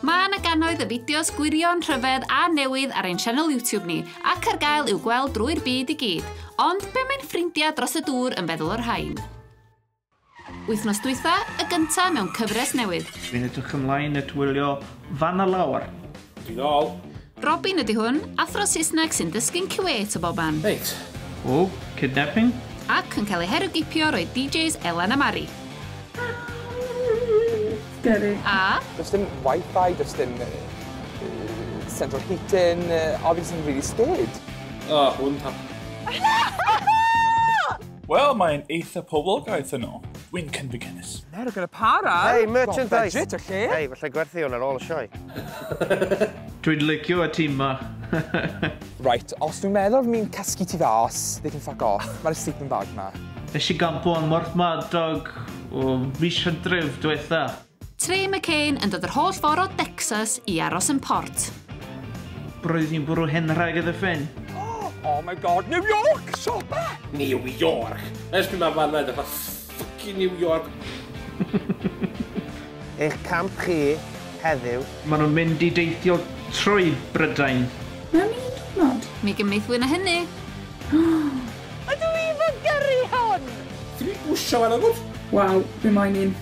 Mae yna gannoedd y fideos gwirion, rhyfedd a newydd ar ein sianel YouTube ni, ac ar gael i'w gweld drwy'r byd i gyd. Ond be mae'n ffrindiau dros y dŵr yn feddwl o'r rhain? Wythnos dwytha, y gyntaf mewn cyfres newydd. Dwi'n edrych ymlaen at wylio fan a lawr. Dwi nôl. Robin ydy hwn, athro Saesneg sy'n dysgu'n Kuwait o boban. Reit. O, kidnapping? Ac yn cael ei herwgipio roedd DJs Elan a Mari. Scary. A. Does dim wifi, does dim central heating, obviously really scared. O, hwn ta. Wel, mae'n eitha poblogaidd yno. Dwi'n cynfyd cynnes. Nero gyda para. Hei, merchandise. Budget o lle. Hei, falle gwerthu hwn ar ôl y sioe. Dwi'n licio y tîm ma. right, os dwi'n meddwl mi'n cysgu ti fas, they can fuck off. Mae'r sleeping bag ma. Nes i gampo yn Morthmadog o fis hydref diwetha. Trey McCain yn dod yr holl ffordd o Decsas i aros yn Port. Roedd hi'n bwrw hen raig y Ddyffryn. Oh my god, New York! Siopa! New York! Ers pryd mae fanna edrych fel ffycin New York? Eich camp chi heddiw. Maen nhw'n mynd i deithio trwy Brydain. Mewn un diwrnod? Mi gymrith fwy na hynny. Ydw i fy gyrru hwn! Ti wedi gwsio fan o gwrs? Waw, be mae'n un?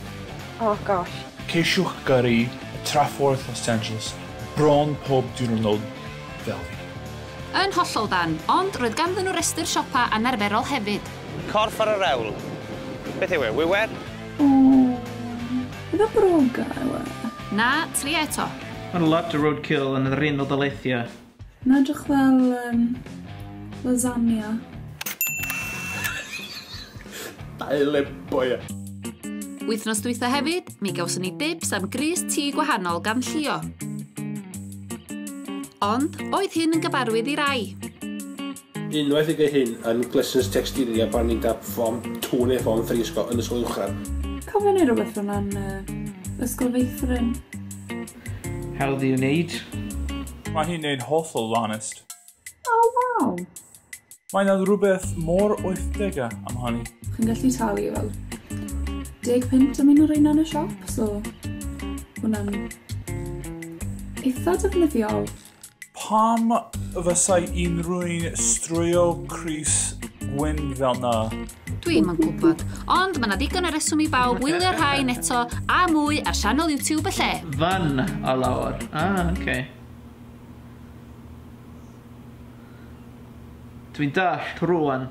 Oh gosh. Ceisiwch gyrru y traffordd Los Angeles bron pob diwrnod fel fi. Yn hollol dân, ond roedd ganddyn nhw restr siopa anarferol hefyd. Corff ar y rewl. Beth yw e, wiwer? Ooh, efo broga yw e? Na, tria eto. Mae'n lot o roadkill yn yr un o daleithiau. Mae'n edrych fel um, lasagna. Daile boia. Wythnos dwytha hefyd, mi gawson ni dibs am grys tŷ gwahanol gan Llio. Ond, oedd hyn yn gyfarwydd i rai. Unwaith y gy hyn yn glesns tecstilia pan ni'n dap fom tŵn e fom ffri ysgol yn ysgol uwchradd. Cofio neu rywbeth fel yna yn yy ysgol feithrin. Hawdd i wneud. Mae hi'n neud hollol lanest. O waw! Mae na rhywbeth mor oithdega am hynny. Chi'n gallu talu fel deg punt am un o'r reina yn y siop, so hwnna'n eitha defnyddiol. Pam fysai unrhyw'n strwyo Chris Gwyn fel na? Dwi'm yn gwybod, ond mae yna ddigon o reswm i bawb wylio rhain eto a mwy ar sianel YouTube y lle. Fan a lawr. Ah, oce. Okay. Dwi'n dallt rwan.